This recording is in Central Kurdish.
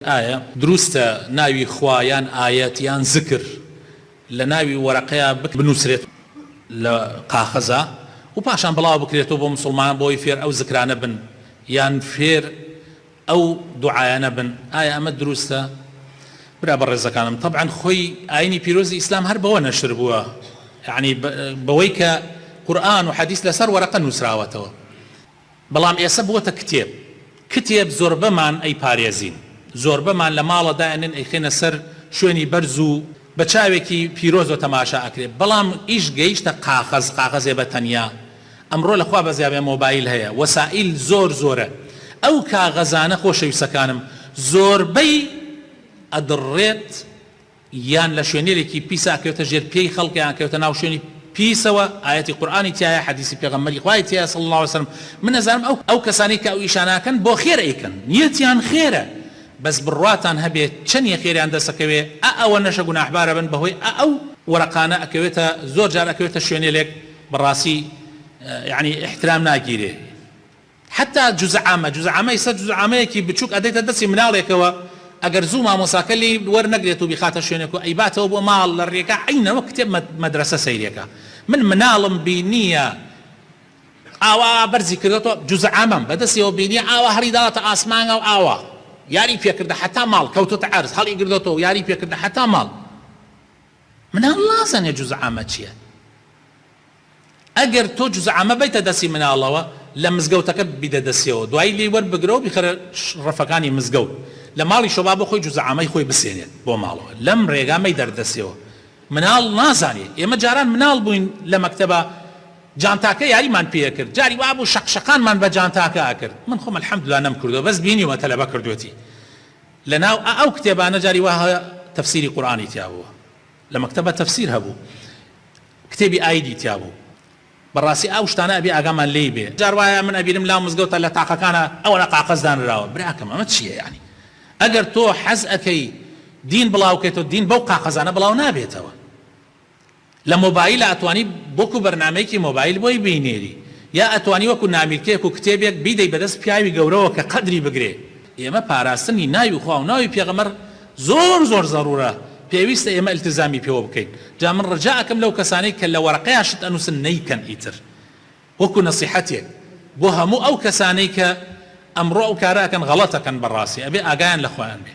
ئایە دروستە ناوی خوا یان ئایەت یان زکر لە ناوی وەرەقەیا بنوسرێت لە قاخەزا و پاشان بڵاو بکرێتەوە بۆ موسڵمانان بۆ ئەوەی فێر ئەو زکرانە بن یان فێر ئەو دوعایانە بن ئایە ئەمە دروستە برا بەڕێزەکانم تەبعەن خۆی ئاینی پیرۆزی ئیسلام هەر بەوە نەشر بووە یەعنی بەوەی کە قورئان و حەدیس لەسەر وەرەقە نوسراوەتەوە. بەڵام ئێسە بۆتە کتێب کتێب زۆربەمان ئەی پارێزین زۆربەمان لە ماڵە دائەنێن ئەیخەینە سەر شوێنی بەرز و بە چاوێکی پیرۆزەوە تەماشا ئەکرێ بەڵام ئیش گەیشتە قاغەز قاغەزێ بە تەنیا ئەمڕۆ لە خوا بەزیابێ مۆبایل هەیە وەسائیل زۆر زۆرە ئەو کاغەزانە خۆشەویستەکانم زۆربەی ئەدڕڕێت یان لە شوێنێلێکی پیسە ئەکەوێتە ژێر پێی خەڵک یان ئەکەوێتە ناو شوێنی پیسەوە ئایەتی قورئانی تیایە حەدیسی پێغەمبەری خوای تیایە صلی اللە علیە وسلم من ئەزانم ئەو ئەو کەسانەی کە ئەو ئیشانە ئەکەن بۆ خێر ئەیکەن نیەتیان خێرە بەس بڕواتان هەبێ چەنیە خێریان دەست ئەکەوێ ئە ئەوەنەشە گوناحبار ئەبن بەهۆی ئە ئەو وەرەقانە ئەکەوێتە زۆر جار ئەکەوێتە شوێنێلێک بەڕاسی یەعنی ئیحترام ناگیرێ. حەتا جزعامە جزعامە ئیستا جزعامەیەکی بچوک ئەدەیتە دەستی مناڵێکەوە ئەگەر زوو مامۆساکە لێی وەر نەگرێت و بیخاتە شوێنێک و ئەیباتەوە بۆ ماڵ لە رێگا عەینە وەک کتێب مەدرەسە سەیرێکە من مناڵم بینیە ئاوا بەرزی کردۆتەوە جزعامەم بەدەستیەوە بینیە ئاوا هەڵی داوەتە ئاسمانگا و ئاوا یاری پێ کردە حەتا ماڵ کەوتۆتە عەرز هەڵی گردۆتەوە و یاری پێ کردە حەتا ماڵ مناڵ نازانێ جزعامە چیە. ئەگەر تۆ جوزئ عامە بەیتە دەستی مناڵەوە لە مزگەوتەکەت بیدە دەستیەوە دوایی لێی وەربگرەوە بیخەرە ڕەفەکانی مزگەوت لە ماڵیشەوە با بۆ خۆی جوزئ عامەی خۆی بسێنێت بۆ ماڵەوە لەم ڕێگا مەیدەرە دەستیەوە مناڵ نازانێ ئێمە جاران مناڵ بووین لە مەکتەبا جانتاکە یاریمان پێ ئەکرد جاری وابوو شەق شەقانمان بە جانتاکە ئەکرد من خۆم الحمدللە نەمکردووە بەس بینیومە تەلەبە کردووەتی لە ناو ئا ئەو کتێبانە جاری وا هەیە تەفسیری قورئانی تیا بووە لە مەکتەبا تەفسیر هەبوو کتێبی ئایدی تیابوو بەڕاستی ئاو شتانە ئەبێ ئاگامان لێی بێ جار وایە من ئەبینم لاو مزگەوتە لە تاقەکانە ئەوەنە قاقەز دانراوە براکەم ئەمە چیە یانی ئەگەر تۆ حەز ئەکەی دین بڵاو کەیتەوە دین بەو قاقەزانە بڵاو نابێتەوە لە مۆبایل ئەتوانی بۆکو بەرنامەیەکی مۆبایل بۆی بینێری یا ئەتوانی وەکو نامیلکەیەک و کتێبێک بیدەی بەدەست پیاوی گەورەوە کە قەدری بگرێ ئێمە پاراستنی ناوی خوا و ناوی پێغەمبەر زۆر زۆر زەرورە پێویستە ئێمە التزامی پێوە بکەین جا من رجا ئەکەم لەو کەسانەی کە لە وەرەقەیا شت ئەنوسن نەیکەن ئیتر وەکو نەسیحەتێک بۆ هەموو ئەو کەسانەی کە ئەمڕۆ ئەو کارە ئەکەن غەڵەت ئەکەن بەڕاستی ئەبێ ئاگایان لە خۆیان بێ.